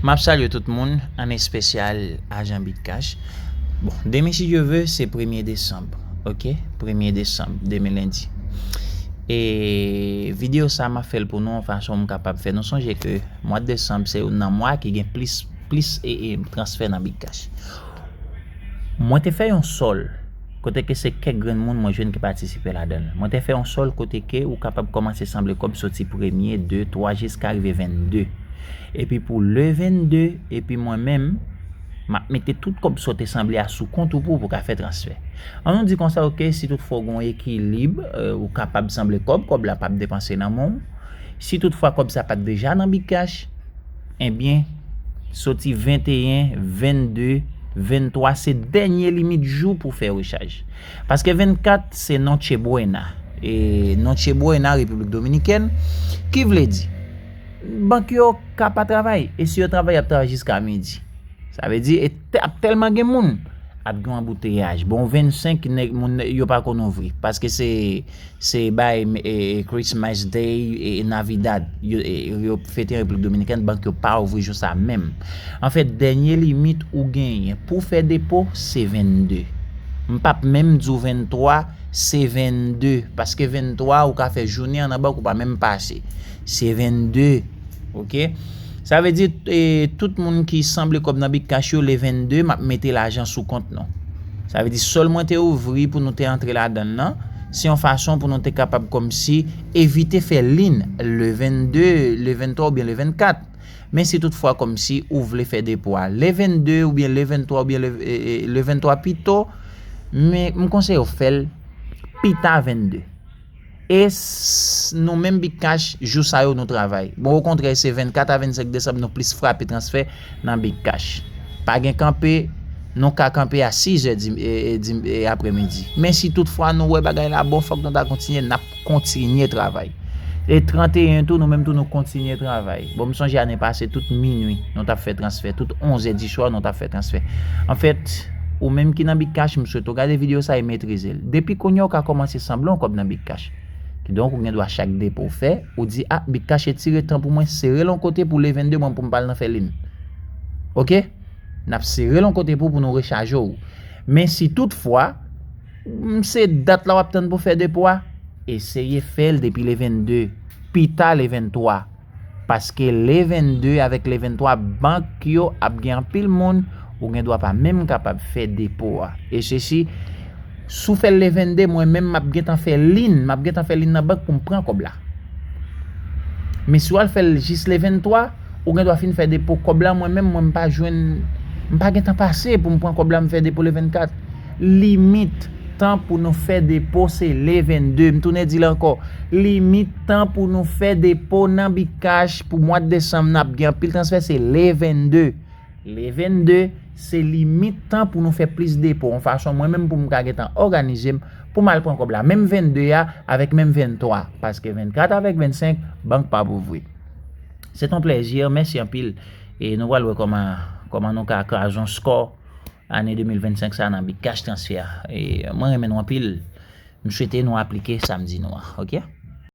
Map salye tout moun an espesyal ajan bitcash bon demen si Dye ve se premye desanb ok premye desanb demen lendi e video sa map fèl pou nou yon fason m kapab fè nou sonje ke mwad desanb se youn nan mwa ki gen plis plis e transfè nan bitcash mwen te fè yon sòl Kote ke se kèk grenn moun mwen jwenn ki patisipe ladan l. Mwen te fè yon sòl kote ke ou kapab kòmanse sanble kòb soti premye, de, twa jiska rive venn-de. Epi pou le venn-de, epi mwen menm, m ap mete tout kòb sa w te sanble a sou kont ou pou pou ka fè transfè. An nou di konsa ok, si tout fwa ou gen yon ekilib, ou kapab sanble kòb, kòb la p ap depanse nan men w. Si tout fwa kòb sa pa t deja nan Bcash, Ebyen, soti 21, 22, 23 se dènye limit jou pou fè rechaj. Paske 24 se Noche Buena. E Noche Buena Repiblik Dominikèn ki vle di bank yo ka pa travay. E si yo travay, y ap travay jiska midi. Sa vle di e ap tèlman gen moun, ap gen anbouteyaj. Bon 25 nèg moun yo pa konn ouvri. Paske se Se bay Christmas Day e Navidad yo fete an Repiblik Dominikèn, bank yo pa ouvri jou sa menm. Anfèt, dènye limit ou genyen pou fè depo se 22. M pap menm di w 23, se 22 paske 23 ou ka fè jounen an nan bank ou pa menm pase. Se 22 ok sa vle di tout moun ki sanble kòb nan big cash yo le 22 map mete lajan sou kont nou sa vle di sol mwen te ouvri pou nou te antre la dan nan se yon fason pou nou te kapab kòm si evite fè lin le 22 le 23 ou byen le 24 men si tout fwa kòm si ou vle fè depo a le 22 ou byen le 23 ou byen le 23 pito men m konseye ou fèl pita 22. E s nou menm Bigcash jou sa yo nou travay. Bon okontrè se 24 a 25 desanm nou plis frape transfè nan Bigcash. Pa gen kanpe, nou ka kanpe a 6 zè di aprè midi. Men si tout fwa nou wè bagay la bon fòk nou ta kontinye, n ap kontinye travay. E 31 tou nou menm tou nou kontinye travay. Bon m sonje ane pase tout minwi nou tap fè transfè, tout 11 zè di swa nou tap fè transfè. Anfèt, ou menm ki nan Bitcash m swete w gade video sa e metrize l. Depi kounye a ou ka kòmanse sanble yon kòb nan Bitcash. Kidonk ou gen dwa chak depo w fè, ou di ah Bitcash etire tan pou mwen, sere l yon kote pou le 22 mwen pou m pa al nan fè linn. Ok? Nap sere l yon kote pou pou nou rechaje w. Men si tout fwa, m se dat la wap tann pou fè depo a, eseye fè l depi le 22, pita le 23. Paske le 22 avèk le 23 bank yo ap gen anpil moun ou gen dwa pa menm kapab fè depo a. E se si, si w fè l le 22 mwen menm m ap gen tan fè lin, m ap gen tan fè lin nan bank pou m pran kòb la. Men si w al fè l jis le 23, ou gen dwa fin fè depo kòb la mwen menm mwen m pa jwenn, m pa gen tan pase pou m pran kòb la m fè depo le 24. Limit tan pou nou fè depo se le 22. M tounen di l ankò, limit. Tan pou nou fè depo nan Bitcash pou mwa desanm nan ap gen anpil transfè se le 22. Le 22 se limit tan pou nou fè plis depo yon fason mwen menm pou m ka gentan òganize m pou m al pran kòb la menm 22 a avèk menm 23 paske 24 avèk 25 bank pa p ouvri. Se t yon plèzi mèsi anpil e nou pral wè kòman kòman nou ka kraze yon skò ane 2025 sa nan Bitcash transfè e mwen renmen nou anpil m swete nou aplike sa m di nou an ok.